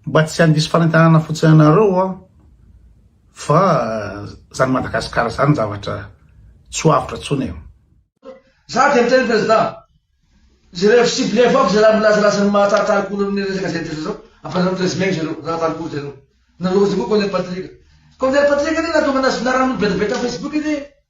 Mba tsy handiso fanentanana fotsiny anareo aho fa zany Madagascar zany zavatra tsy ho avotra tsony e. Za dia miteny Président, jereo sy cibleo foagna zay raha milazalaza ny maha tartary cool an'ny resaka zay atretra zao, ampanareo présmegny zareo ratary cool zareo, nareo zay koa colonel Patrick, colonel Patrick anie nahatonga anazy finarana olo be dia be tam Facebook anie e.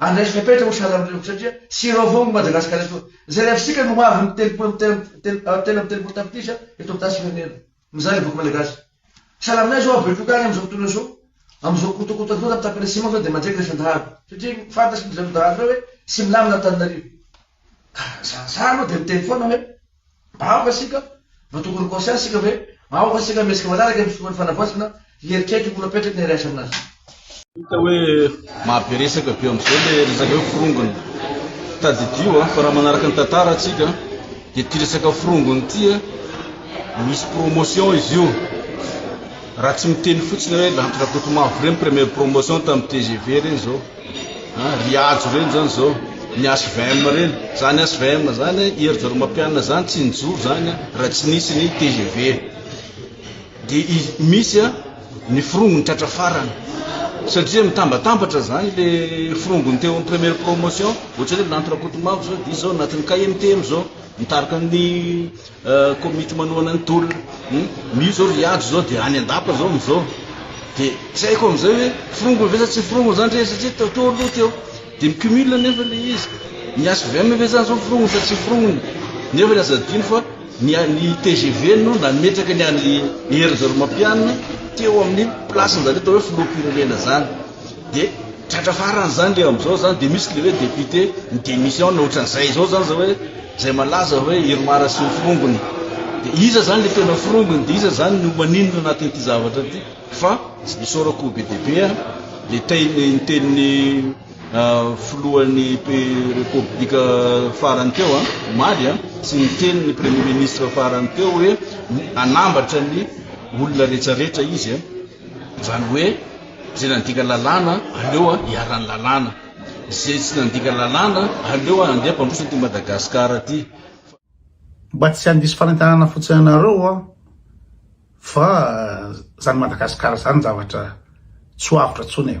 Andresy fepetra ho sahala amin'ireo satria sirop avao ny Madagasikara eto. Izay rehefa isika no avy ny telopolo amby telo telo amby telopolo tapitrisa eto amin'ny tany firenena. Mizara ny boky malagasy. Sahala aminay izao betroka any amin'izao fotoana izao, amin'izao kotokoto antoandro amin'ny tapany atsimo izao dia mandray kilasan-dahalo satria fantatry ny ry zareo dahalo ireo hoe tsy milamina Antananarivo. Ka raha zara zara aloha dia miteny foana hoe. Aoka isika mba tokony ho conscient isika ve? Aoka isika mihetsika manaraka ny finoan'ny fanavaozana hieritreritra io napetraka ny RAS aminazy io. Hita hoe mahabe resaka be amin'izao ilay resaka hoe forongony. Tadidio an, fa raha manaraka ny tantara isika dia ity resaka forongony ity misy promotion izy io. Raha tsy miteny fotsiny hoe Lanto Rakotomavo ireny premier promotion tamin'ny tgv ireny izao. Ah ry Hajo ireny zany zao ny HVM ireny, zany HVM zany an, Hery Jaromapianina zany tsy nijoro zany an raha tsy nisy ny tgv. Dia i- misy an ny firongo ny tratra farany. Satria mitambatambatra zany le firongony teo amin'ny première promotion, ohatrany hoe Lanto Rakotomavo zao dia izy zao anatin'ny KMTM zao, mitarika ny Komity manohana ny tolona hum mio zao ry Andry zao de any andapa zao amizao de tsy haiko amizay hoe forongony ve sa tsy forongony zany re satria teo teo aloha teo de mi cumule nefa le izy ny HVM ve zany zao forongony sa tsy forongony nefa ny aza adino fa ny ny tgv no nametraka ny any Hery Rajaorimampianina teo amin'ny place anjareo atao hoe filoham-pirenena zany de tratra farany zany le amizao zany de misy le hoe député mi démission na otran'izay zao zany zao hoe Izay malaza hoe Irmar sy ny forongony. Dia iza izany ilay tena forongony? Dia iza izany no maninona anatin'ity zavatra ity? Fa isaorako be dia be ny teny ny tenin'ny filohan'ny repoblika farany teo omaly sy ny tenin'ny premier ministre farany teo hoe anambatra ny olona rehetrarehetra izy izany hoe izay nandika lalàna aleo iharan'ny lalàna. Izay tsy nandika lalàna, aleo handeha mpandroso aty Madagascar aty fa. Mba tsy handiso fanentanana fotsiny anareo aho fa zany Madagascar zany zavatra tsy ho avotra tsony e.